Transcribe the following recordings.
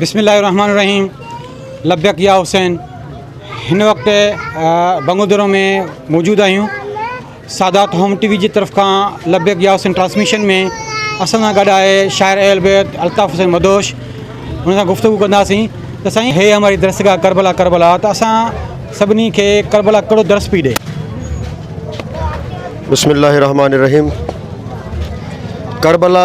بسم الله الرحمٰن الرحيم لبيڪ يا حسين هن وقت بنگودرو ۾ موجود آهيون سادات هوم ٽي وي جي طرف کان لبيڪ يا حسين ٽرانسميشن ۾ اسان سان گڏ آهي شاعر اهل بيت الطاف حسين مدهوش ان سان گفتگو ڪنداسين ته سائين هي هماري درسگاهه ڪربلا ڪربلا ته اسان سڀني کي ڪربلا ڪهڙو درس پي ڏي بسم الله الرحمٰن الرحيم ڪربلا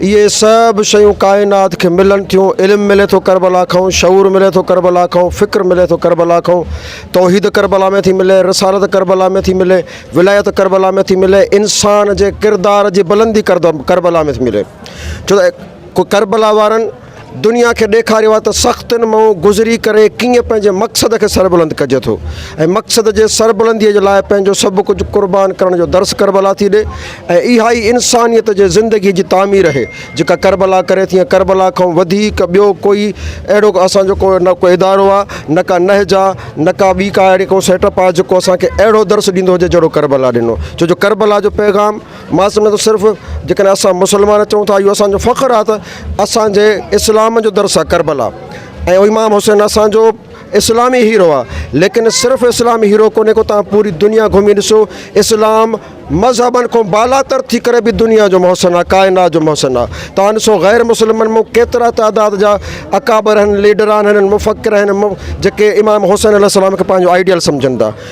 اهي سڀ شيون ڪائنات کي ملن ٿيون، علم ملي ٿو ڪربلا کان، شعور ملي ٿو ڪربلا کان، فڪر ملي ٿو ڪربلا کان، توحيد ڪربلا ۾ ٿي ملي، رسالت ڪربلا ۾ ٿي ملي، ولايت ڪربلا ۾ ٿي ملي، انسان جي ڪردار جي بلندي ڪربلا ۾ ٿي ملي ڇو ته ڪربلا وارن دنيا کي ڏيکاريو آهي ته سختين مان گذري ڪري ڪيئن پنهنجي مقصد کي سربلند ڪجي ٿو ۽ مقصد جي سربلندي جي لاء پنهنجو سڀ ڪجهه قربان ڪرڻ جو درس ڪربلا ٿي ڏي ۽ اها ئي انسانيت جي زندگي جي تعمير اهي جيڪا ڪربلا ڪري ٿي ۽ ڪربلا کان وڌيڪ ٻيو ڪوئي اهڙو ڪو اسان جو ڪو نه ڪو ادارو آهي نه ڪا نهج آهي نه ڪا ٻي ڪا اهڙي ڪو سيٽ اپ آهي جيڪو اسان کي اهڙو درس ڏيندو هجي جهڙو ڪربلا ڏنو ڇو جو ڪربلا جو پيغام مان سمجهان ٿو صرف جيڪڏهن اسان مسلمان چئون ٿا اهو اسان جو فخر آهي ته اسان جي اسلام جو درس آهي ڪربلا ۽ امام حسين اسان جو اسلامي هيرو آهي ليڪن صرف اسلامي هيرو ڪونهي ڪو تان پوري دنيا گهمي ڏسو اسلام مذهبن کان بالا تر ٿي ڪري به دنيا جو محسن آهي ڪائنات جو محسن آهي تان ڏسو غير مسلمن مون ڪيترا تعداد جا اڪابر آهن ليڊر آهن مفڪر آهن جيڪي امام حسين عليه السلام کي پنهنجو آئيڊيل سمجهن ٿا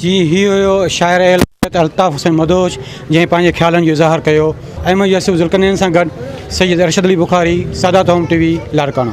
جي هي هيو شاعر اهل بيت الطاف حسين مدهوش جنهن پنهنجي خيالن جو اظهار ڪيو احمد يوسف ذوالقرنين سان گڏ سيد ارشد علي بخاري، سادات هوم ٽي وي لاڙڪاڻو.